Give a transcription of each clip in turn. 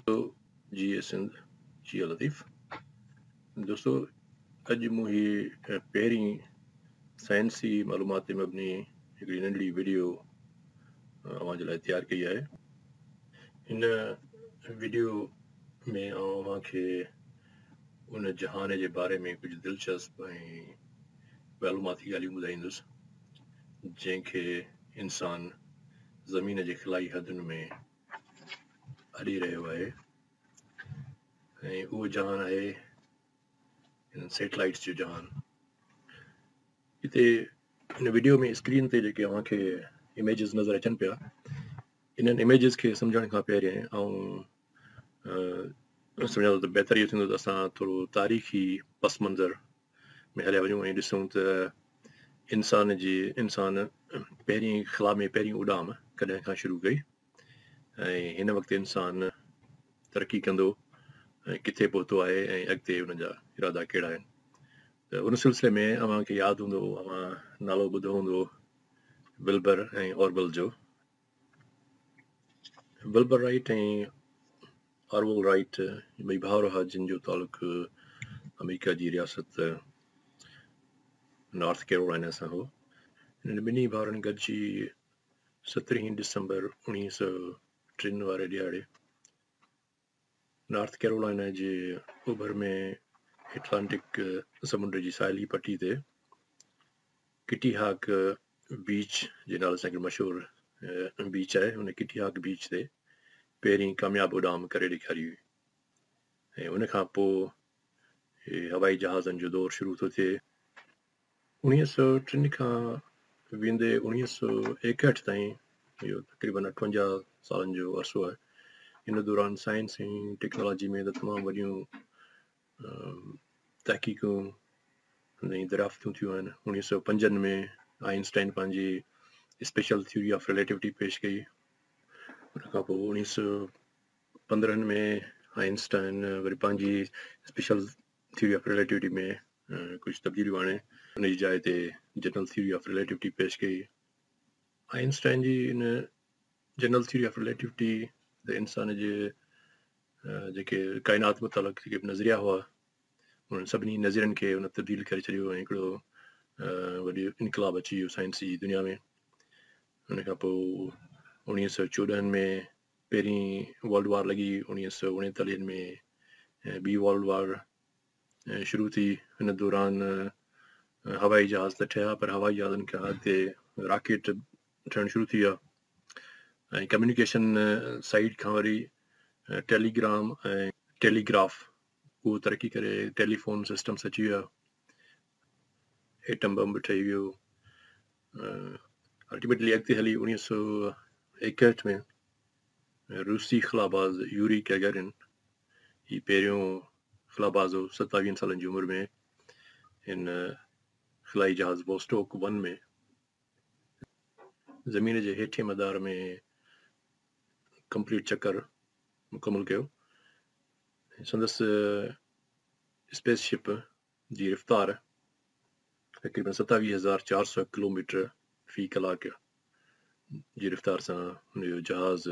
تو جي اي سنڌ جي لطيف دوستو اڄ مون هي پهرين سائنسي معلومات تي مبني هڪڙي ننڍڙي ويڊيو اوهان جي لاء تيار ڪئي آهي هن ويڊيو ۾ آئون اوهان کي ان جهان جي باري ۾ ڪجهه دلچسپ ۽ معلوماتي ڳالهيون ٻڌائيندس جنهن کي انسان زمين جي خلائي حدن ۾ اڏي رهيو آهي ۽ اهو جهان آهي انهن سيٽلائيٽس جو جهان هتي هن ويڊيو ۾ اسڪرين تي جيڪي اوهان کي اميجز نظر اچن پيا انهن اميجز کي سمجھڻ کان پهرين آئون سمجھان ٿو ته بهتر اهو ٿيندو ته اسان ٿورو تاريخي پس منظر ۾ هليا وڃون ۽ ڏسون ته انسان جي انسان پهرين خلا ۾ پهرين اڏام ڪڏهن کان شروع ڪئي ۽ هن وقت انسان ترقي ڪندو ۽ ڪٿي پهتو آهي ۽ اڳتي ان جا ارادا ڪهڙا آهن ته ان سلسلي ۾ اوهان کي ياد هوندو اوهان نالو ٻڌو هوندو ولبر ۽ اوربل جو ولبر رائيٽ ۽ آرول رائيٽ ٻئي ڀائر هئا جن جو تعلق آمريڪا جي رياست نارٿ ڪيرولائنا سان هو هنن ٻنهي ڀائرن گڏجي سترهين ڊسمبر اوڻيهه سؤ ٽن واري ڏهاڙي نارٿ ڪيرولانا جي اوڀر ۾ ائٽلانٽڪ سمنڊ جي ساحلي پٽي تي ڪٽي هاڪ بيچ جي نالي سان هڪڙي مشهور بيچ آهي ان ڪٽي هاڪ بيچ تي پهرين ڪامياب اڏام ڪري ڏيکاري هئي ۽ ان کان پوء هوائي جهازن جو دور شروع ٿو ٿئي اڻيهه سؤ ٽن کان ويندي اڻيهه سؤ ايڪهٺ تائين اهو تقريبن اٺونجاهه سالن جو عرصو آهي ان دوران سائنس ۽ ٽيڪنالاجي ۾ ته تمام وڏيون تحقيقون ۽ دريافتون ٿيون آهن اڻيهه سؤ پنجن ۾ آئنسٽائن پنهنجي اسپيشل ٿيوري آف ريليٽيوٽي پيش ڪئي ان کان پوء اڻيهه سؤ پندرهن ۾ آئنسٽائن وري پنهنجي اسپيشل ٿيوري آف رليٽوٽي ۾ ڪجهه تبديليون آڻي ان جي جاء تي جنرل ٿيوري آف رليٽوٽي پيش ڪئي. آئن اسٽائن جي ان جنرل ٿيوري آف رليٽوٽي ته انسان جي جيڪي ڪائنات متعلق جيڪي به نظريا هئا انهن سڀني نظرين کي ان تبديل ڪري ڇڏيو ۽ هڪڙو وڏي انقلاب اچي ويو سائنس جي دنيا ۾ ان کان پوء اڻيهه سو چوڏهن ۾ پهرين ورلڊ وار لڳي اڻيهه سؤ اڻيتاليهن ۾ ٻي ورلڊ وار شروع ٿي ان دوران هوائي جهاز ته ٺهيا پر هوائي جهازن کان اڳتي راڪيٽ ٺهڻ شروع ٿي ويا ۽ ڪميونيڪيشن سائيڊ کان وري ٽيليگرام ۽ ٽيليگراف اهو ترقي ڪري ٽيليفون سسٽمس اچي ويا ايٽم بم به ٺهي ويو الٽيميٽلي اڳتي هلي اوڻيهه سؤ ايڪهٺ ۾ روسي خلاباز يوري گيگرن هي پهريون خلاباز هو ستاويهن سالن جي عمر ۾ هن خلائي جهاز ووسٽوڪ ون ۾ زمين جي هيٺين مدار ۾ ڪمپليٽ چڪر مڪمل ڪيو سندس اسپيس شپ جي رفتار تقريبن ستاويهه هزار چار سؤ ڪلوميٽر في ڪلاڪ جي رفتار سان هن جو جهاز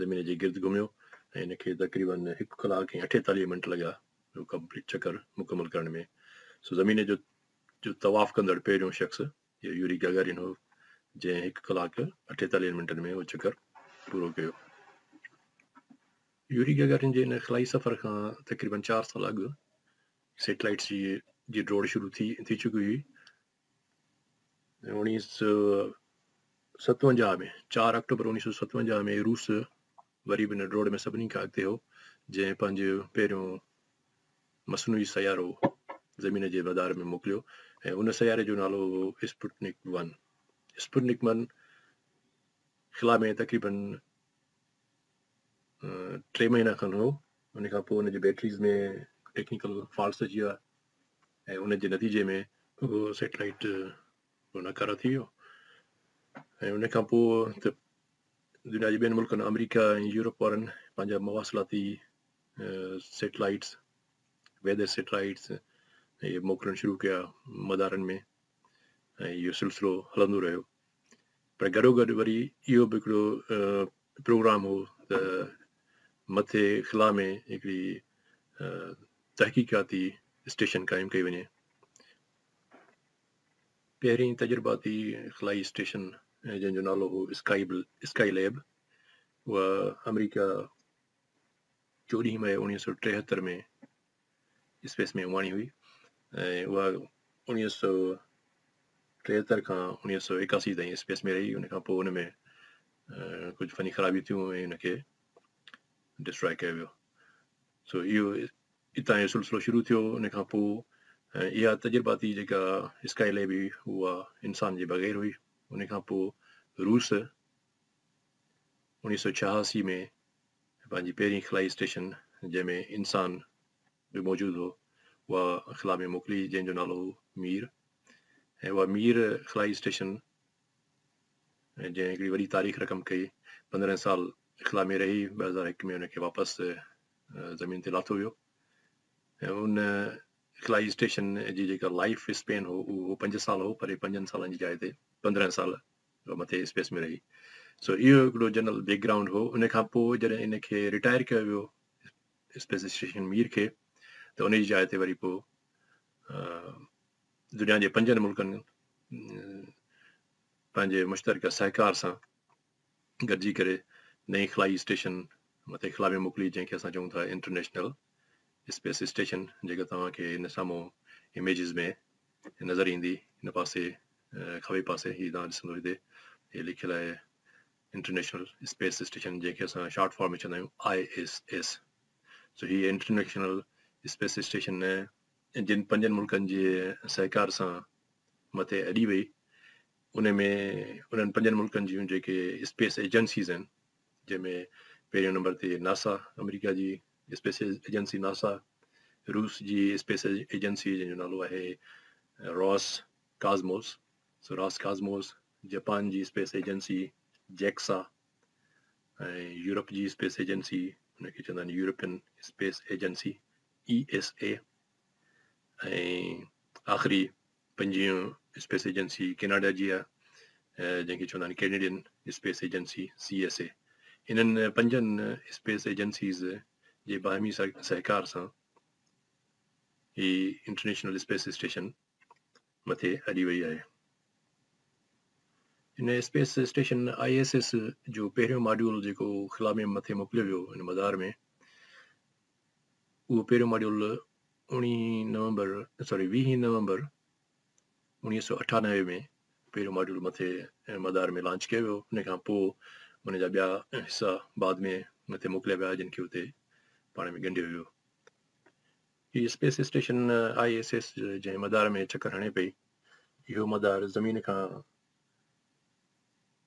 زمين جي گرد گهميو ۽ هن کي تقريبن هڪ ڪلاڪ ۽ اٺيتاليهه منٽ لڳا چڪر مڪمل ڪرڻ ۾ سو زمين جو جو طواف ڪندڙ پهريون شخص اهو يوري گاگارين هو جنهن هڪ ڪلاڪ اٺيتاليهن منٽن ۾ اهو چڪر پورو ڪيو. يوري گاگارين جي ان خلائي سفر کان تقريبن چار سال اڳ سيٽلائيٽس جي جي ڊوڙ شروع ٿي ٿي چڪي هئي اوڻيهه سو ستونجاهه ۾ چار آڪٽوبر اوڻيهه سو ستونجاهه ۾ روس وري به ان ڊوڙ ۾ سڀني کان اڳتي هو جنهن پنهنجو پهريون مصنوعي سيارو زمين جي مدار ۾ موڪليو ۽ ان سياري جو نالو هو اسپوٽنڪ ون. اسپوٽنڪ ون خلا ۾ تقريبن ٽي مهينا کن هو ان کان پوء ان جي بيٽريز ۾ ٽيڪنيڪل فالٽس اچي ويا ۽ ان جي نتيجي ۾ اهو سيٽلائيٽ ناڪارا ٿي ويو ۽ ان کان پوء ته دنيا جي ٻين ملڪن آمريڪا ۽ يورپ وارن پنهنجا مواصلاتي سيٽلائيٽس ويدر سيٽلائيٽس اهي موڪلڻ شروع ڪيا مدارن ۾ ۽ اهو سلسلو هلندو رهيو پر گڏو گڏ وري اهو به هڪڙو پروگرام هو ته مٿي خلا ۾ هڪڙي تحقيقاتي اسٽيشن قائم ڪئي وڃي پهرين تجرباتي خلائي اسٽيشن جنهن جو نالو هو اسڪائي اسڪائي ليب اها آمريڪا چوڏهين مئي اوڻيهه سؤ ٽيهتر ۾ اسپيس ۾ اماڻي هئي ۽ اها اوڻيهه سؤ ٽيهتر کان اوڻيهه سؤ ايڪاسي تائين اسپيس ۾ رهي ان کان پوء ان ۾ ڪجهه فني خرابيون ٿيون ۽ ان کي ڊسٽرائي ڪيو ويو سو اهو اتان جو سلسلو شروع ٿيو ان کان پوء اها تجرباتي جيڪا اسڪائي ليب هئي اها انسان جي بغير هئي ان کان پوء روس انيس سؤ ڇهاسي ۾ پنهنجي پهرين خلائي اسٽيشن جنهن ۾ انسان به موجود هو اها خلا ۾ موڪلي جنهن جو نالو هو مير ۽ اها مير خلائي اسٽيشن جنهن هڪڙي وڏي تاريخ رقم ڪئي پندرهن سال خلا ۾ رهي ٻه هزار هڪ ۾ ان کي واپس زمين تي لاٿو ويو ۽ ان خلائي اسٽيشن جي جيڪا لائف اسپين هو اهو پنج سال هو پر پنجن سالن جي جاء تي پندرهن سال هو مٿي اسپيس ۾ رهي. سو اهو هڪڙو جنرل بيڪ گرائونڊ هو. ان کان پوء جڏهن ان کي رٽائر ڪيو ويو اسپيس اسٽيشن مير کي ته ان جي جاء تي وري پوء دنيا جي پنجن ملڪن پنهنجي مشترڪه سهڪار سان گڏجي ڪري نئين خلائي اسٽيشن مٿي خلا ۾ موڪلي جنهن کي اسان چئون ٿا انٽرنيشنل اسپيس اسٽيشن جيڪا توهان کي هن سامهون اميجز ۾ نظر ايندي هن پاسي کاٻي پاسي هي توهان ڏسندو هتي هي لکيل آهي انٽرنيشنل اسپيس اسٽيشن جنهن کي اسان شارٽ فارم ۾ چوندا آهيون آء ايس ايس سو هي انٽرنيشنل اسپيس اسٽيشن جن پنجن ملڪن جي سهڪار سان مٿي اڏي وئي ان ۾ انهن پنجن ملڪن جون جيڪي اسپيس ايجنسيز آهن جنهن ۾ پهرين نمبر تي ناسا، آمريڪا جي اسپيس ايجنسي ناسا، روس جي اسپيس ايجنسي جنهن جو نالو آهي راس ڪازموس، Ross Cosmos، جپان جي اسپيس ايجنسي جيڪسا ۽ يورپ جي اسپيس ايجنسي ان کي چوندا آهن European space agency E S A ۽ آخري پنجيون اسپيس ايجنسي ڪيناڊا جي آهي جنهن کي چوندا آهن Canadian space agency, C S A. انهن پنجن اسپيس ايجنسيز جي باهمي سهڪار سان هي انٽرنيشنل اسپيس اسٽيشن مٿي اڏي وئي آهي. هن space station I S S جو پهريون ماڊيول جيڪو خلا ۾ مٿي موڪليو ويو ان مدار ۾ اهو پهريون ماڊيول اوڻيهين نومبر سوري ويهين نومبر اوڻيهه سؤ اٺانوي ۾ پهريون ماڊيول مٿي مدار ۾ لانچ ڪيو ويو ان کان پوء ان جا ٻيا حصا بعد ۾ مٿي موڪليا ويا جن کي اتي پاڻ ۾ ڳنڍيو ويو هي space station I S S جنهن مدار ۾ چڪر هڻي پئي اهو مدار زمين کان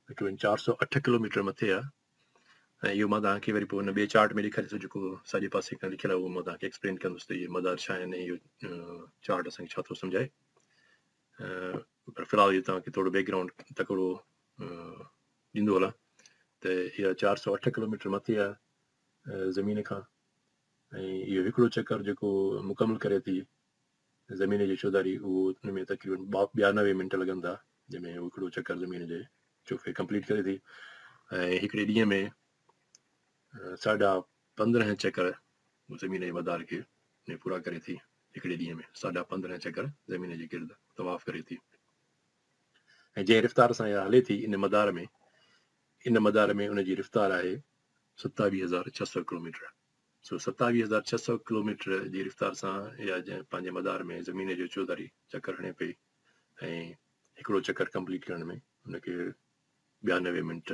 تقريبن چار سؤ اٺ ڪلوميٽر مٿي آهي ۽ اهو مان توهان کي وري پوء ان ٻئي چارٽ ۾ ڏيکاريان ٿو جيڪو ساڄي پاسي کان لکيل آهي اهو مان توهان کي ايڪسپلين ڪندس ته اهي مدار ڇا آهن ۽ اهو چارٽ اسان کي ڇا ٿو سمجهائي پر في الحال اهو توهان کي ٿورو بيڪ گرائونڊ تڪڙو ڏيندو هلان ته اها چار سؤ اٺ ڪلوميٽر مٿي آهي زمين کان ۽ اهو هڪڙو چڪر جيڪو مڪمل ڪري ٿي زمين جي چوڌاري اهو ان ۾ تقريبن ٻيانوي منٽ لڳن ٿا جنهن ۾ هو هڪڙو چڪر زمين جي چوڦير ڪمپليٽ ڪري ٿي ۽ هڪڙي ڏينهن ۾ ساڍا پندرهن چڪر زمين جي مدار کي ۾ پورا ڪري ٿي هڪڙي ڏينهن ۾ ساڍا پندرهن چڪر زمين جي گرد طواف ڪري ٿي ۽ جنهن رفتار سان اها هلي ٿي ان مدار ۾ ان مدار ۾ ان جي رفتار آهي ستاويهه هزار ڇهه سؤ ڪلوميٽر سو ستاويهه هزار ڇهه سؤ ڪلوميٽر جي رفتار سان اها پنهنجي مدار ۾ زمين جو چوڌاري چڪر هڻي پئي ۽ هڪڙو چڪر ڪمپليٽ ڪرڻ ۾ ان کي ٻيانوي منٽ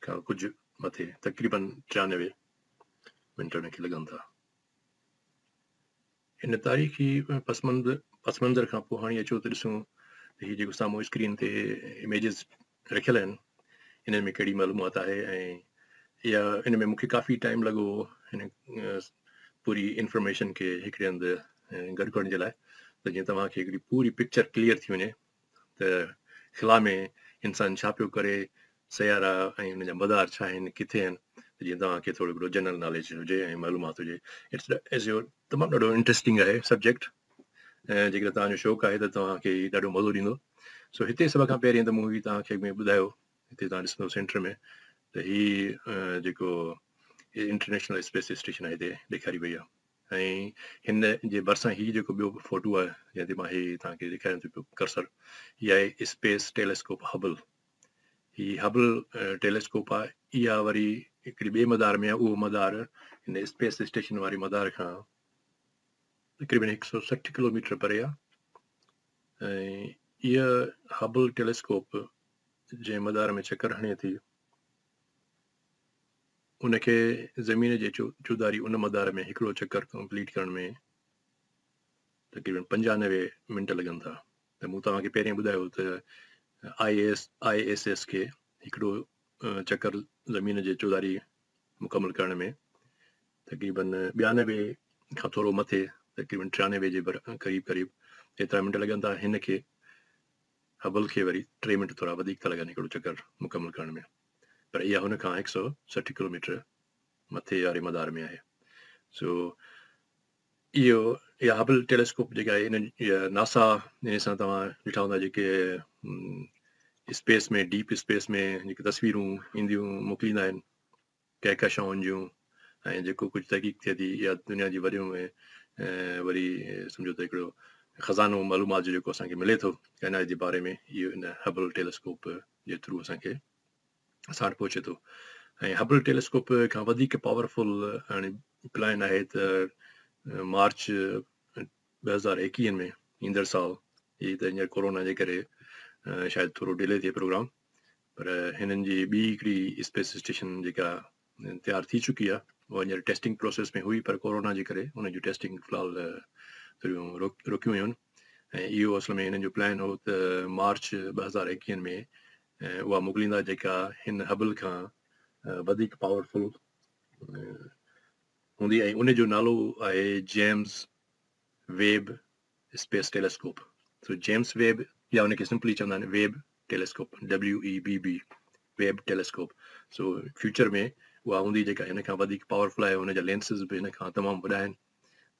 کان ڪجهه مٿي تقريبن ٽيانوي منٽ ان کي لڳن ٿا. هن تاريخي پس منظر کان پوء هاڻي اچو ته ڏسون ته هي جيڪو سامهون اسڪرين تي اميجز رکيل آهن انهن ۾ ڪهڙي معلومات آهي ۽ يا ان ۾ مون کي ڪافي ٽائيم لڳو هو هن پوري انفارميشن کي هڪڙي هنڌ گڏ ڪرڻ جي لاء ته جيئن توهان کي هڪڙي پوري پڪچر ڪليئر ٿي وڃي ته خلا ۾ انسان ڇا پيو ڪري، سيارا ۽ ان جا مدار ڇا آهن، ڪٿي آهن ته جيئن توهان کي ٿورو گهڻو جنرل ناليج هجي ۽ معلومات هجي اٽس تمام ڏاڍو انٽرسٽنگ آهي سبجيڪٽ ۽ جيڪڏهن توهان جو شوق آهي ته توهان کي هي ڏاڍو مزو ڏيندو سو هتي سڀ کان پهرين ته مون هي توهان کي ۾ ٻڌايو هتي توهان ڏسندو سينٽر ۾ ته هي جيڪو انٽرنيشنل اسپيس اسٽيشن آهي هتي ڏيکاري وئي آهي ۽ هن جي ڀرسان هي جيڪو ٻيو فوٽو آهي جنهن تي مان هي توهان کي ڏيکاريان ٿو پيو ڪرسر هي آهي اسپيس ٽيليسڪوپ هبل هي هبل ٽيليسڪوپ آهي اها وري هڪڙي ٻئي مدار ۾ اهو مدار هن اسپيس اسٽيشن واري مدار کان تقريبن هڪ سو سٺ ڪلوميٽر پري آهي ۽ اها هبل ٽيليسڪوپ جنهن مدار ۾ چڪر هڻي ٿي ان کي زمين جي چوڌاري ان مدار ۾ هڪڙو چڪر ڪمپليٽ ڪرڻ ۾ تقريبن پنجانوي منٽ لڳن ٿا ته مون توهان کي پهرين ٻڌايو ته I S I S S کي هڪڙو چڪر زمين جي چوڌاري مڪمل ڪرڻ ۾ تقريبن ٻيانوي کان ٿورو مٿي تقريبن ٽيانوي جي قريب قريب ايترا منٽ لڳن ٿا هن کي هبل کي وري ٽي منٽ ٿورا وڌيڪ ٿا لڳن هڪڙو چڪر مڪمل ڪرڻ ۾ پر اها هن کان هڪ سؤ سٺ ڪلوميٽر مٿي واري مدار ۾ آهي سو اهو اها هبل ٽيليسڪوپ جيڪا آهي ان ناسا ان سان توهان ڏٺا هوندا جيڪي اسپيس ۾ ڊيپ اسپيس ۾ جيڪي تصويرون اينديون موڪليندا آهن ڪهڪشائن جون ۽ جيڪو ڪجهه تحقيق ٿئي ٿي اها دنيا جي وريون ۽ وري سمجهو ته هڪڙو خزانو معلومات جو جيڪو اسان کي ملي ٿو ڪائنات جي باري ۾ اهو ان هبل ٽيليسڪوپ جي ٿرو اسان کي اسان وٽ پهچي ٿو ۽ هبل ٽيليسڪوپ کان وڌيڪ پاورفل هاڻي پلان آهي ته مارچ ٻه هزار ايڪيهن ۾ ايندڙ سال هي ته هينئر ڪورونا جي ڪري شايد ٿورو ڊلي ٿئي پروگرام پر هنن جي ٻي هڪڙي اسپيس اسٽيشن جيڪا تيار ٿي چڪي آهي اها هينئر ٽيسٽنگ پروسيس ۾ هئي پر ڪورونا جي ڪري ان جون ٽيسٽنگ في الحال ٿوريون رڪيون ويون ۽ اهو اصل ۾ هنن جو پلان هو ته مارچ ٻه هزار ايڪيهن ۾ اها موڪليندا جيڪا هن هبل کان وڌيڪ پاورفل هوندي ۽ ان جو نالو آهي James Webb space telescope so James Webb يا ان کي سمپلي چوندا آهن Webb telescope WEBB Webb telescope so future ۾ اها هوندي جيڪا هن کان وڌيڪ پاورفل آهي هن جا لينسز به هن کان تمام وڏا آهن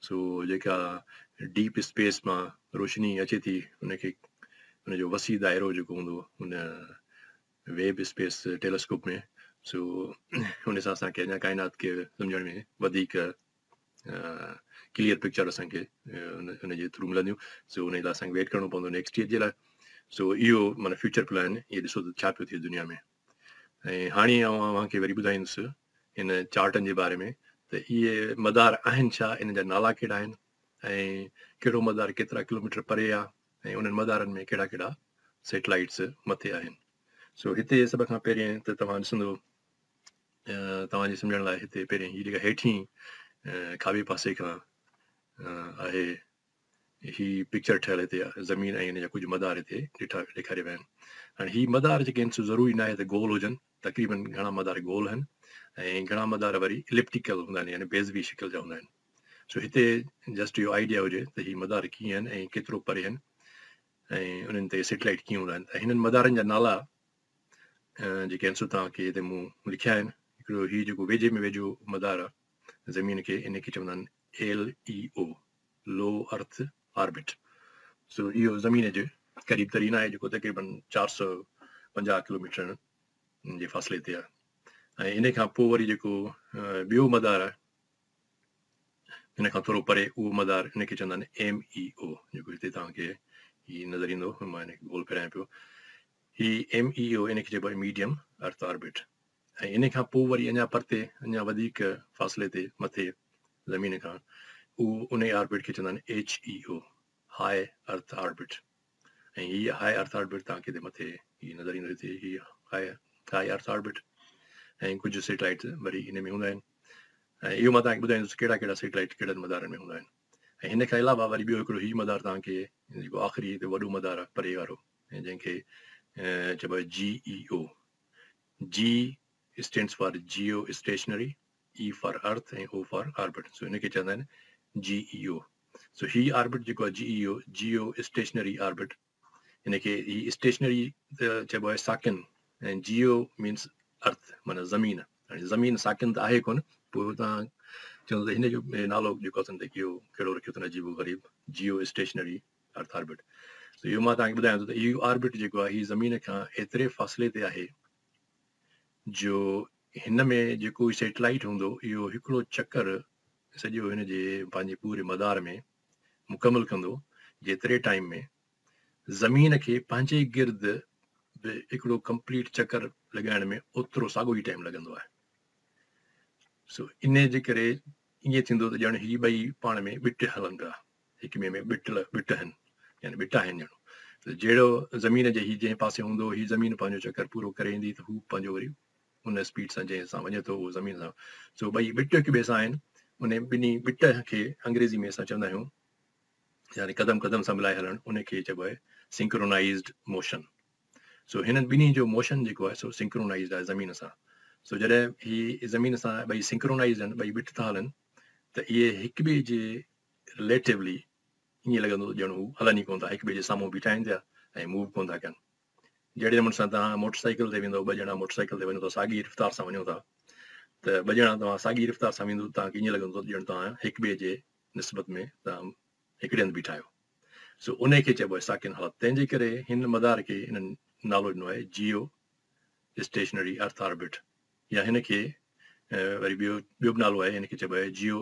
سو جيڪا ڊيپ اسپيس مان روشني اچي ٿي ان کي ان جو وسيع دائرو جيڪو هوندو ان ويب اسپيس ٽيليسڪوپ ۾ سو ان سان اسانکي اڃا ڪائنات کي سمجھڻ ۾ وڌيڪ ڪليئر پڪچر اسان کي ان جي ٿرو ملنديون سو ان لاء اسان کي ويٽ ڪرڻو پوندو نيڪسٽ ايئر جي لاء سو اهو مانا فيوچر پلان اهي ڏسو ته ڇا پيو ٿئي دنيا ۾ ۽ هاڻي آئون اوهان کي وري ٻڌائيندس ان چارٽن جي باري ۾ ته اهي مدار آهن ڇا ان جا نالا ڪهڙا آهن ۽ ڪهڙو مدار ڪيترا ڪلوميٽر پري آهي ۽ انهن مدارن ۾ ڪهڙا ڪهڙا سيٽلائيٽس مٿي آهن سو هتي سڀ کان پهرين ته توهان ڏسندو توهان جي سمجهڻ لاء هتي پهرين هي جيڪا هيٺين کاٻي پاسي کان آهي هي پڪچر ٺهيل هتي زمين ۽ هن جا ڪجهه مدار هتي ڏٺا ڏيکاريا ويا آهن هاڻي هي مدار جيڪي آهن سو ضروري نه آهي ته گول هجن تقريبن گهڻا مدار گول آهن ۽ گهڻا مدار وري اليپٽيڪل هوندا آهن يعني بيزوي شڪل جا هوندا آهن سو هتي جسٽ اهو آئيڊيا هجي ته هي مدار ڪيئن آهن ۽ ڪيترو پري آهن ۽ انهن تي سيٽلائيٽ ڪيئن هوندا آهن ته هنن مدارن جا نالا جيڪي عنصر توهان کي هتي مون لکيا آهن، هڪڙو هي جيڪو ويجهي ۾ ويجهو مدار آهي زمين کي، ان کي چوندا آهن LEO، Low Earth Orbit، سو اهو زمين جي قريب ترين آهي جيڪو تقريبن چار سؤ پنجاهه ڪلوميٽرن جي فاصلي تي آهي ۽ ان کان پوء وري جيڪو ٻيو مدار آهي ان کان ٿورو پري اهو مدار ان کي چوندا آهن ايم اي او جيڪو هتي توهان کي هي نظر ايندو مان هن کي گول ڦيرايان پيو هي MEO ان کي چئبو آهي ميڊيم ارٿ آربٽ ۽ ان کان پوء وري اڃا پرتي اڃا وڌيڪ فاصلي تي مٿي زمين کان اهو انهي آربٽ کي چوندا آهن HEO هاء ارٿ آربٽ ۽ هي هاء ارٿ آربٽ تان ڪيتري مٿي هي نظر ايندو هتي هي هاء هاء ارٿ آربٽ ۽ ڪجهه سيٽلائيٽ وري ان ۾ هوندا آهن ۽ اهو مان تان ٻڌائيندس ڪهڙا ڪهڙا سيٽلائيٽ ڪهڙن مدارن ۾ هوندا آهن ۽ هن کان علاوه وري ٻيو هڪڙو هي مدار تان کي جيڪو آخري هتي وڏو مدار آهي پري وارو جنهن کي چئبو آهي جي اي او، جي stands for geostationary, E for earth ۽ O for orbit so ان کي چوندا آهن جي اي او سو هي آربٽ جيڪو آهي جي E O geostationary orbit ان کي هي اسٽيشنري چئبو آهي ساڪن ۽ جيو مينس ارٿ معنی زمين يعني زمين ساڪن ته آهي ڪون پوء تان چون ته هن جو نالو جيڪو اٿن ته اهو ڪهڙو رکيو اٿن عجيب غريب جيو اسٽيشنري ارٿ آربٽ ته اهو مان توهان کي ٻڌايان ٿو ته اهو آربٽ جيڪو آهي هي زمين کان ايتري فاصلي تي آهي جو هن ۾ جيڪو هي سيٽلائيٽ هوندو اهو هڪڙو چڪر سڄو هن جي پنهنجي پوري مدار ۾ مڪمل ڪندو جيتري ٽائيم ۾ زمين کي پنهنجي گرد به هڪڙو ڪمپليٽ چڪر لڳائڻ ۾ اوترو ساڳو ئي ٽائيم لڳندو آهي سو ان جي ڪري ائين ٿيندو ته ڄڻ هي ٻئي پاڻ ۾ ٻٽ هلن پيا حڪمي ۾ ٻٽل، ٻٽهن، يعني ٻٽاهن ڄڻو ته جهڙو زمين جي هي جنهن پاسي هوندو، هي زمين پنهنجو چڪر پورو ڪري ايندي ته هو پنهنجو وري ان اسپيڊ سان جنهن سان وڃي ٿو اهو زمين سان سو ٻئي ٻٽ هڪ ٻئي سان آهن ان ٻنهي ٻٽ کي انگريزي ۾ اسان چوندا آهيون يعني قدم قدم سان ملائي هلڻ ان کي چئبو آهي سنڪرونائزڊ موشن سو هنن ٻنهي جو موشن جيڪو آهي سو سنڪرونائزڊ آهي زمين سان سو جڏهن هي زمين سان ٻئي سنڪرونائزڊ آهن ٻئي ٻٽ ٿا هلن ته اهي هڪ ٻئي جي رليٽيولي ائين لڳندو ته ڄڻ هو هلن ئي ڪونه ٿا، هڪ ٻئي جي سامهون بيٺا آهن پيا ۽ موو به ڪونه ٿا ڪن. جهڙي نموني سان توهان موٽر سائيڪل تي ويندو، ٻه ڄڻا موٽر سائيڪل تي وڃو ٿا، ساڳي رفتار سان وڃو ٿا ته ٻه ڄڻا توهان ساڳي رفتار سان ويندو توهان کي ائين لڳندو ته ڄڻ توهان هڪ ٻئي جي نسبت ۾ توهان هڪڙي هنڌ بيٺا آهيو. سو انهي کي چئبو آهي ساڪن حالت. تنهن جي ڪري هن مدار کي هنن نالو ڏنو آهي جيو اسٽيشنري ارٿ آربٽ يا هن کي وري ٻيو ٻيو به نالو آهي هن کي چئبو آهي جيو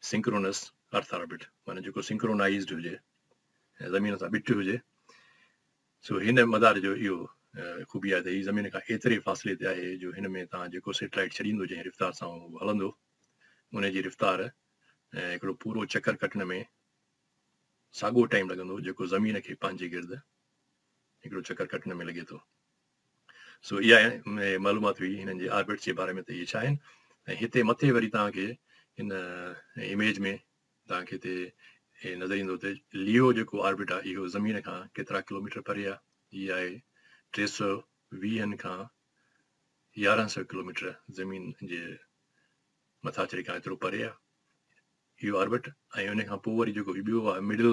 سنڪرونس ارٿ آربٽ معنيٰ جيڪو سنڪرونائيزڊ هجي ۽ زمين سان ٻٽ هجي سو هن مدار جو اهو خوبي آهي ته هي زمين کان ايتري فاصلي تي آهي جو هن ۾ توهان جيڪو سيٽلائيٽ ڇڏيندو جنهن رفتار سان هو هلندو ان جي رفتار ۽ هڪڙو پورو چڪر ڪٽڻ ۾ ساڳو ٽائيم لڳندو جيڪو زمين کي پنهنجي گرد هڪڙو چڪر ڪٽڻ ۾ لڳي ٿو سو اها معلومات هئي هنن جي آربٽس جي باري ۾ ته اهي ڇا آهن ۽ هتي مٿي وري توهان کي ان اميج ۾ توهان کي هتي نظر ايندو ته ليو جيڪو آربٽ آهي اهو زمين کان ڪيترا ڪلوميٽر پري آهي هي آهي ٽي سؤ ويهن کان يارهن سؤ ڪلوميٽر زمين جي مٿاڇري کان ايترو پري آهي اهو آربٽ ۽ ان کان پوء وري جيڪو هي ٻيو آهي مڊل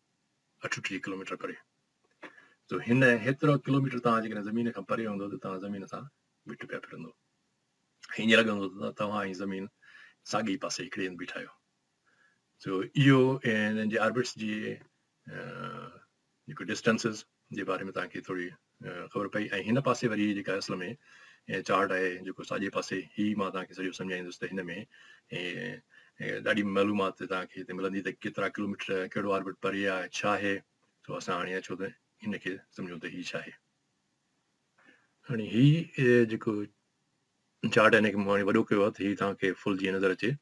اٺٽيهه ڪلوميٽر پري جو هن هيترو ڪلوميٽر توهان جيڪڏهن زمين کان پري هوندو ته توهان زمين سان مٽ پيا ڦرندو ائين لڳندو ته توهان ۽ زمين ساڳي پاسي هڪڙي هنڌ بيٺا آهيو جو اهو هنن جي آربٽس جي جيڪو ڊسٽنسز جي باري ۾ تنهن کي ٿوري خبر پئي ۽ هن پاسي وري جيڪا اصل ۾ چارٽ آهي جيڪو ساڄي پاسي هي مان تنهن کي سڄو سمجهائيندس ته هن ۾ ڏاڍي معلومات تنهن کي هتي ملندي ته ڪيترا ڪلوميٽر ڪهڙو آربٽ پري آهي ڇا آهي سو اسان هاڻي اچو ته هن کي سمجهون ته هي ڇا آهي هاڻي هي جيڪو چارٽ آهي هن کي مون هاڻي وڏو ڪيو آهي ته هي تنهن کي فل جيئن نظر اچي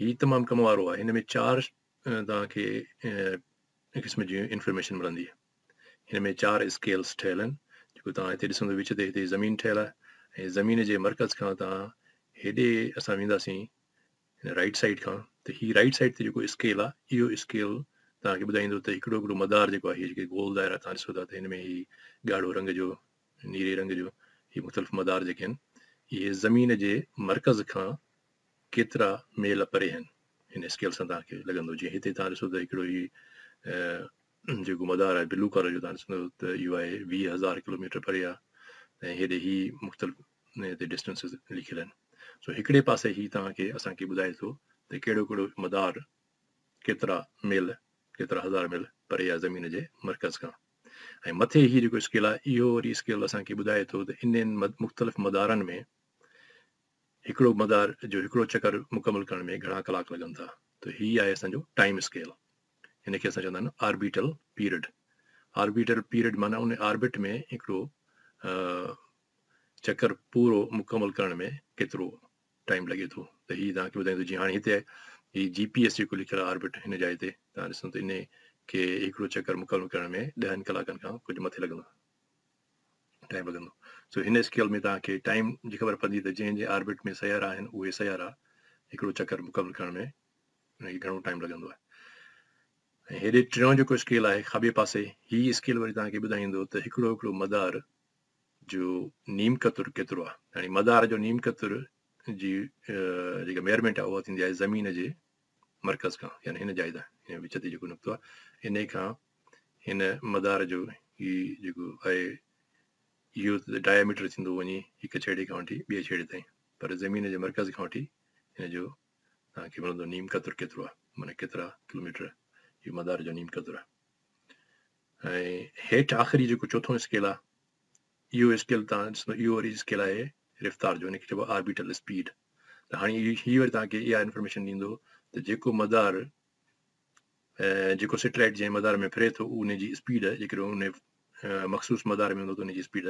هي تمام ڪم وارو آهي هن ۾ چار توهان کي ان قسم جي انفارميشن ملندي. هن ۾ چار اسڪيلز ٺهيل آهن جيڪو توهان هتي ڏسندو وچ تي هتي زمين ٺهيل آهي ۽ زمين جي مرڪز کان توهان هيڏي اسان وينداسين هن رائيٽ سائيڊ کان ته هي رائيٽ سائيڊ تي جيڪو اسڪيل آهي اهو اسڪيل توهان کي ٻڌائيندو ته هڪڙو هڪڙو مدار جيڪو آهي جيڪي گول دائرا توهان ڏسو ٿا ته هن ۾ هي ڳاڙهو رنگ جو نيري رنگ جو هي مختلف مدار جيڪي آهن اهي زمين جي مرڪز کان ڪيترا ميل پري آهن هن اسڪيل سان توهان کي لڳندو جيئن هتي توهان ڏسو ته هڪڙو هي جيڪو مدار آهي بلو ڪالر جو توهان ڏسندو ته اهو آهي ويهه هزار ڪلوميٽر پري آهي ۽ هيڏي هي مختلف هتي ڊسٽنسز لکيل آهن سو هڪڙي پاسي هي توهان کي اسان کي ٻڌائي ٿو ته ڪهڙو ڪهڙو مدار ڪيترا ميل ڪيترا هزار ميل پري آهي زمين جي مرڪز کان ۽ مٿي هي جيڪو اسڪيل آهي اهو وري اسڪيل اسان کي ٻڌائي ٿو ته انهن مختلف مدارن ۾ هڪڙو مدار جو هڪڙو چڪر مڪمل ڪرڻ ۾ گهڻا ڪلاڪ لڳن ٿا ته هي آهي اسان جو ٽائيم اسڪيل هن کي اسان چوندا آهن آربيٽل پيرڊ آربيٽل پيرڊ معنيٰ ان آربٽ ۾ هڪڙو چڪر پورو مڪمل ڪرڻ ۾ ڪيترو ٽائيم لڳي ٿو ته هي توهان کي ٻڌائي ٿو جي هاڻي هتي هي جي پي ايس جيڪو لکيل آربٽ هن جاء تي توهان ڏسو ته ان کي هڪڙو چڪر مڪمل ڪرڻ ۾ ڏهن ڪلاڪن کان ڪجهه مٿي لڳندا ٽائيم لڳندو سو هن اسڪيل ۾ توهان کي ٽائيم جي خبر پوندي ته جنهن جنهن آربٽ ۾ سيارا آهن اهي سيارا هڪڙو چڪر مڪمل ڪرڻ ۾ ان کي گهڻو ٽائيم لڳندو آهي ۽ هيڏي ٽيون جيڪو اسڪيل آهي کاٻي پاسي هي اسڪيل وري توهان کي ٻڌائيندو ته هڪڙو هڪڙو مدار جو نيم قطر ڪيترو آهي يعني مدار جو نيم قطر جي جيڪا ميئرمينٽ آهي اها ٿيندي آهي زمين جي مرڪز کان يعني هن جاء تان وچ تي جيڪو نقطو آهي انهي کان هن مدار جو هي جيڪو آهي اهو ته ڊائميٽر ٿيندو وڃي هڪ ڇيڙي کان وٺي ٻئي ڇيڙي تائين پر زمين جي مرڪز کان وٺي هن جو توهان کي ملندو نيم قطر ڪيترو آهي معنيٰ ڪيترا ڪلوميٽر اهو مدار جو نيم قطر آهي ۽ هيٺ آخري جيڪو چوٿون اسڪيل آهي اهو اسڪيل تان ڏسندو اهو وري اسڪيل آهي رفتار جو هنکي چئبو آربيٽل اسپيڊ ته هاڻي هي وري تان کي اها انفارميشن ڏيندو ته جيڪو مدار جيڪو سيٽلائيٽ جنهن مدار ۾ ڦري ٿو ان جي اسپيڊ جيڪڏهن ان مخصوص مدار ۾ هوندو ته ان جي اسپيڊ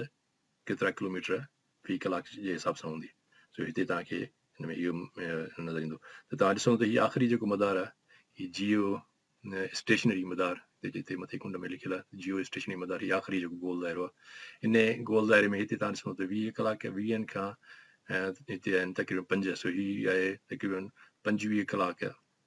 ڪيترا ڪلوميٽر في ڪلاڪ جي حساب سان هوندي سو هتي توهان کي هن ۾ اهو نظر ايندو ته توهان ڏسو ته هي آخري جيڪو مدار آهي هي جيو اسٽيشنري مدار جتي مٿي ڪنڊ ۾ لکيل آهي جيو اسٽيشنري مدار هي آخري جيڪو گول دائرو آهي ان گول دائري ۾ هتي تان ڏسو ته ويهه ڪلاڪ ويهن کان هتي آهن تقريبن پنج سو هي آهي تقريبن پنجويهه ڪلاڪ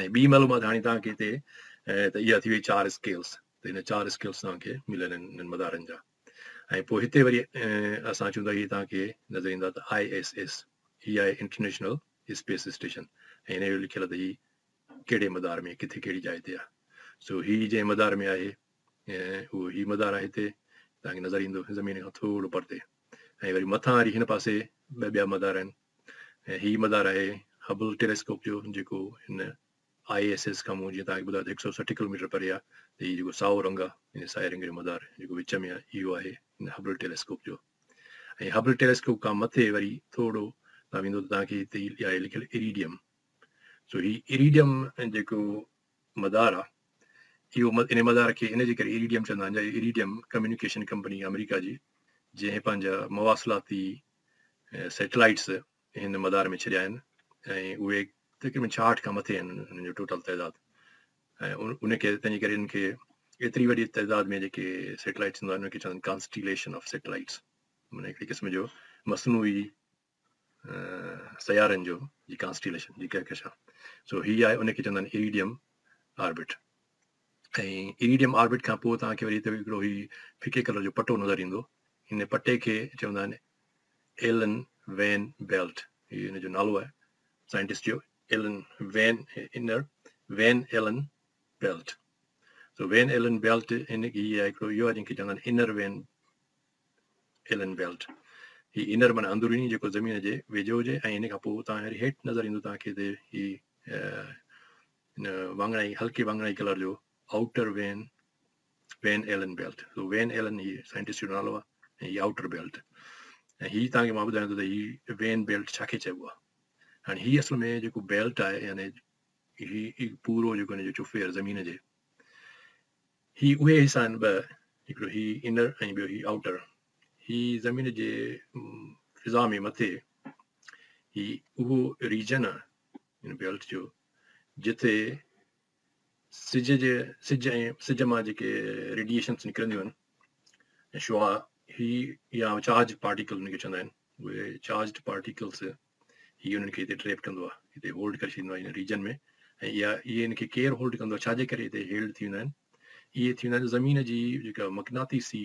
۽ ٻي معلومات هاڻي توهان کي هتي ته اها ٿي وئي چار اسڪيلس ته هن چار اسڪيلس توهان کي مليل آهن انهن مدارن جا ۽ پوء هتي وري اسان اچون ٿا هي توهان کي نظر ايندا ته آء ايس ايس هي آهي انٽرنيشنل اسپيس اسٽيشن ۽ هن جو لکيل آهي ته هي ڪهڙي مدار ۾ ڪٿي ڪهڙي جاء تي آهي سو هي جنهن مدار ۾ آهي اهو هي مدار آهي هتي توهان کي نظر ايندو زمين کان ٿورو پرتي ۽ وري مٿان واري هن پاسي ٻه ٻيا مدار آهن ۽ هي مدار آهي هبل ٽيليسڪوپ جو جيڪو هن آء ايس ايس کان مون جيئن توهان کي ٻڌايو ته هڪ سئو سٺ ڪلوميٽر پري آهي ته هي جيڪو سائو رنگ آهي ان سائي رنگ جو مدار جيڪو وچ ۾ آهي اهو آهي هن هبل ٽيليسڪوپ جو ۽ هبل ٽيليسڪوپ کان مٿي وري ٿورو تان ويندو ته توهان کي هتي آهي لکيل ايريڊيم سو هي ايريڊيم جيڪو مدار آهي اهو ان مدار کي ان جي ڪري ايريڊيم چوندا آهن جا ايريڊيم ڪميونيڪيشن ڪمپني آمريڪا جي جنهن پنهنجا مواصلاتي سيٽلائيٽس هن مدار ۾ ڇڏيا آهن ۽ اهي تقريبن ڇاهٺ کان مٿي آهن انهن جو ٽوٽل تعداد ۽ ان کي تنهنجي ڪري انهن کي ايتري وڏي تعداد ۾ جيڪي سيٽلائٽس هوندا آهن انهن کي چوندا آهن ڪانسٽيليشن آف سيٽلائٽس معنی هڪڙي قسم جو مصنوعي سيارن جو جي ڪانسٽيليشن جي ڪهڪشا سو هي آهي ان کي چوندا آهن ايريڊيم آربٽ ۽ ايريڊيم آربٽ کان پوء توهان کي وري هتي هڪڙو هي ڦڪي ڪلر جو پٽو نظر ايندو. ان پٽي کي چوندا آهن ايلن وين بيلٽ. هي ان جو نالو آهي سائنٽسٽ جو Allen Van inner Van Allen belt. So Van Allen belt ان کي هي هڪڙو اهو آهي جنهن کي چوندا آهن انر وين ايلن بيلٽ. هي انر معنی اندروني جيڪو زمين جي ويجهو هجي ۽ ان کان پوء توهان هيٺ نظر ايندو توهان کي هتي هي هن واڱڻائي، هلڪي واڱڻائي ڪلر جو outer Van, Van Allen belt, so Van Allen هي سائنٽسٽ جو نالو آهي ۽ هي آئوٽر بيلٽ ۽ هي تان کي مان ٻڌايان ٿو ته هي وين بيلٽ ڇا کي چئبو آهي. هاڻي هي اصل ۾ جيڪو بيلٽ آهي يعني هي پورو جيڪو هن جو چوڦير زمين جي هي اهي حصا آهن ٻه هڪڙو هي انر ۽ ٻيو هي آئوٽر هي زمين جي فضا ۾ مٿي هي اهو ريجن آهي ان بيلٽ جو جتي سج جي سج ۽ سج مان جيڪي ريڊيشنس نڪرنديون آهن ۽ شعا هي يا چارج پارٽيڪل ان کي چوندا آهن اهي چارج پارٽيڪلس هي انهن کي هتي ٽريپ ڪندو آهي هتي هولڊ ڪري ڇڏيندو آهي هن ريجن ۾ ۽ اها اهي ان کي ڪير هولڊ ڪندو آهي ڇاجي ڪري هتي هيلڊ ٿي ويندا آهن اهي ٿي ويندا آهن زمين جي جيڪا مقناطيسي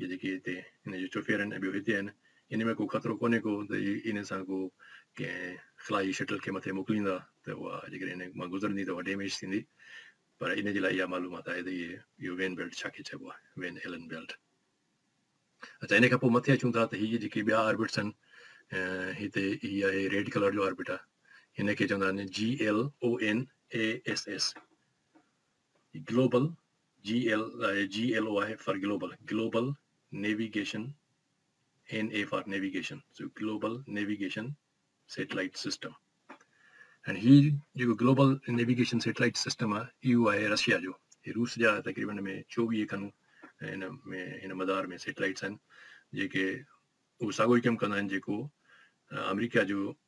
جي جيڪي هتي هن جي چوڦير آهن ۽ ٻيو هتي آهن ان ۾ ڪو خطرو ڪونهي ڪو ته هي انهن سان ڪو ڪنهن خلائي شٽل کي مٿي موڪليندا ته اها جيڪڏهن انهن مان گذرندي ته اها ڊيميج ٿيندي پر ان جي لاء اها معلومات آهي ته اهي اهو وين بيلٽ ڇا کي چئبو آهي وين ايلن بيلٽ اچا ان کان پوء مٿي اچون ٿا ته هي جيڪي ٻيا آربٽس آهن هتي هي آهي ريڊ ڪلر جو آربٽ آهي هن کي چوندا آهن G L O N A S S global, GLO، آهي for global, Global Navigation، NA for navigation, so global navigation satellite system ۽ هي جيڪو گلوبل نيويگيشن سيٽلائيٽ سسٽم آهي اهو آهي رشيا جو هي روس جا تقريبن ۾ چوويهه کن هن ۾ هن مدار ۾ سيٽلائيٽس آهن جيڪي اهو ساڳو ئي ڪم ڪندا آهن جيڪو آمريڪا جو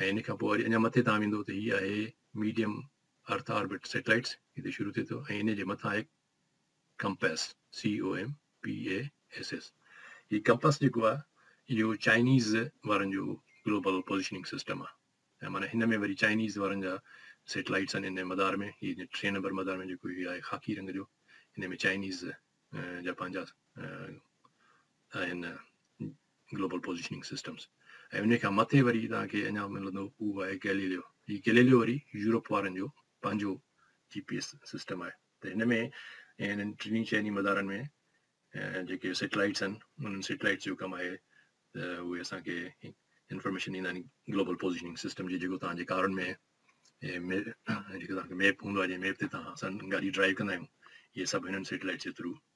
۽ ان کان پوء وري اڃا مٿي تان ويندو ته هي آهي ميڊيم ارٿ آربٽ سيٽلائيٽس هتي شروع ٿئي ٿو ۽ ان جي مٿان آهي ڪمپاس COMPASS هي ڪمپاس جيڪو آهي اهو چائنيز وارن جو گلوبل پوزيشننگ سسٽم آهي ۽ معنی هن ۾ وري چائنيز وارن جا سيٽلائيٽس آهن ان مدار ۾ هي ٽئين نمبر مدار ۾ جيڪو هي آهي خاڪي رنگ جو ان ۾ چائنيز جا پنهنجا آهن گلوبل پوزيشننگ سسٽمز، ۽ انهي کان مٿي وري توهان کي اڃا ملندو اهو آهي گيليليو، هي گيليليو وري يورپ وارن جو پنهنجو جي پي ايس سسٽم آهي ته هن ۾ انهن ٽنهي چئني مدارن ۾ جيڪي سيٽلائيٽس آهن انهن سيٽلائيٽس جو ڪم آهي ته اهي اسان کي انفارميشن ڏيندا آهن گلوبل پوزيشننگ سسٽم جي جيڪو توهان جي ڪارن ۾ جيڪو توهان کي ميپ هوندو آهي جنهن ميپ تي توهان سان گاڏي ڊرائيو ڪندا آهيون اهي سڀ هنن سيٽلائيٽس جي ٿرو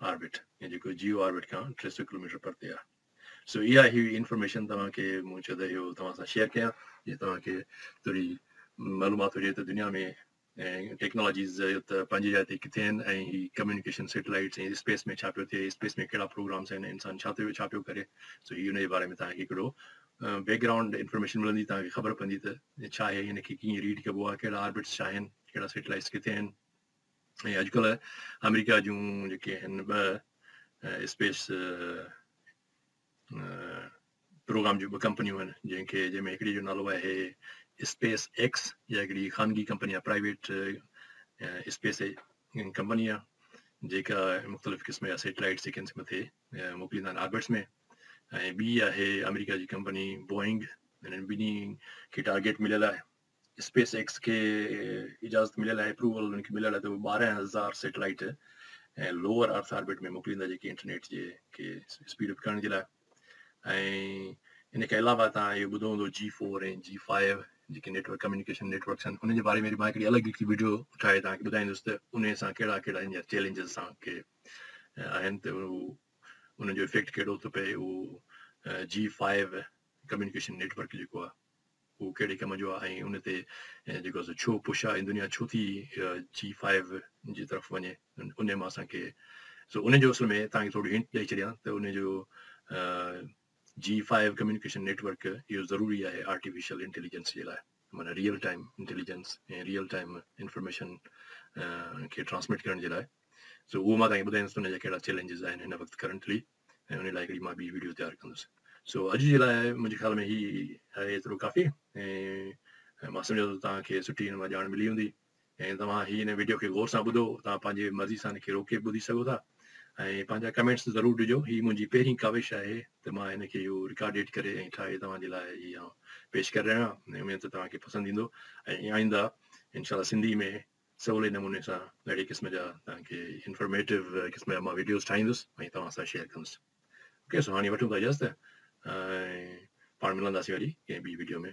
آربٽ يا جيڪو جيو آربٽ کان ٽي سؤ ڪلوميٽر پرتي آهي سو اها هي انفارميشن توهان کي مون چيو ته اهو توهان سان شيئر ڪيان جي توهان کي ٿوري معلومات هجي ته دنيا ۾ ٽيڪنالاجيز ته پنهنجي جاء تي ڪٿي آهن ۽ هي ڪميونيڪيشن سيٽلائٽس ۽ اسپيس ۾ ڇا پيو ٿئي اسپيس ۾ ڪهڙا پروگرامس آهن انسان ڇا ٿيو ڇا پيو ڪري سو هي ان جي باري ۾ توهان کي هڪڙو بيڪ گرائونڊ انفارميشن ملندي توهان کي خبر پوندي ته ڇا آهي هن کي ڪيئن ريڊ ڪبو آهي ڪهڙا آربٽس ڇا آهن ڪهڙا سيٽلائٹس ڪٿي آهن ۽ اڄڪلهه آمريڪا جون جيڪي آهن ٻه اسپيس پروگرام جون ٻه ڪمپنيون آهن جنهن کي جنهن ۾ هڪڙي جو نالو آهي اسپيس ايڪس جا هڪڙي خانگي ڪمپني آهي پرائيويٽ اسپيس ڪمپني آهي جيڪا مختلف قسم جا سيٽلائيٽ سيڪنس مٿي موڪليندا آهن آربٽس ۾ ۽ ٻي آهي آمريڪا جي ڪمپني بوئنگ هنن ٻنهي کي ٽارگيٽ مليل آهي اسپيس ايڪس کي اجازت مليل آهي اپروول انهن کي مليل آهي ته اهي ٻارهن هزار سيٽلائيٽ ۽ لوور ارٿ آربٽ ۾ موڪليندا جيڪي انٽرنيٽ جي کي اسپيڊ اپ ڪرڻ جي لاء ۽ ان کي علاوه تان اهو ٻڌو هوندو جي فور ۽ جي فائيو جيڪي نيٽورڪ ڪميونيڪيشن نيٽورڪس آهن ان جي باري ۾ مان هڪڙي الڳ هڪڙي ويڊيو ٺاهي تان کي ٻڌائيندس ته ان سان ڪهڙا ڪهڙا هن چيلنجز سان کي آهن ته ان جو افيڪٽ ڪهڙو ٿو پئي اهو جي فائيو ڪميونيڪيشن نيٽورڪ جيڪو آهي هو ڪهڙي ڪم جو آهي ۽ ان تي جيڪو سو ڇو پش آهي دنيا ڇو ٿي جي فائيو جي طرف وڃي ان مان اسان کي سو ان جو اصل ۾ تان کي ٿورو هنٽ ڏئي ڇڏيان ته ان جو جي فائيو ڪميونيڪيشن نيٽورڪ اهو ضروري آهي آرٽيفيشل انٽيليجنس جي لاء معنی real time intelligence ۽ real time information کي ٽرانسمٽ ڪرڻ جي لاء سو اهو مان تان کي ٻڌايان ته ان جا ڪهڙا چيلنجز آهن هن وقت ڪرنٽلي ۽ ان لاء هڪڙي مان ٻي وڊيو تيار ڪندس سو اڄ جي لاء منهنجي خيال ۾ هي آهي ايترو ڪافي ۽ مان سمجهان ٿو توهان کي سٺي هن مان ڄاڻ ملي هوندي ۽ توهان هي هن وڊيو کي غور سان ٻڌو توهان پنهنجي مرضي سان هن کي روڪي ٻڌي سگهو ٿا ۽ پنهنجا ڪمينٽس ضرور ڏجو هي منهنجي پهرين ڪاوش آهي ته مان هن کي اهو رڪارڊيڊ ڪري ۽ ٺاهي توهان جي لاء هي آئون پيش ڪري رهيو آهيان اميد ته توهان کي پسند ايندو ۽ آئنده انشاء الله سنڌي ۾ سولي نموني سان اهڙي قسم جا توهان کي انفارميٽو قسم جا مان وڊيوز ٺاهيندس ۽ توهان سان شيئر ڪندس اوڪي سو هاڻي وٺون ٿا اجازت ۽ پاڻ ملنداسين وري ڪنهن ٻي وڊيو ۾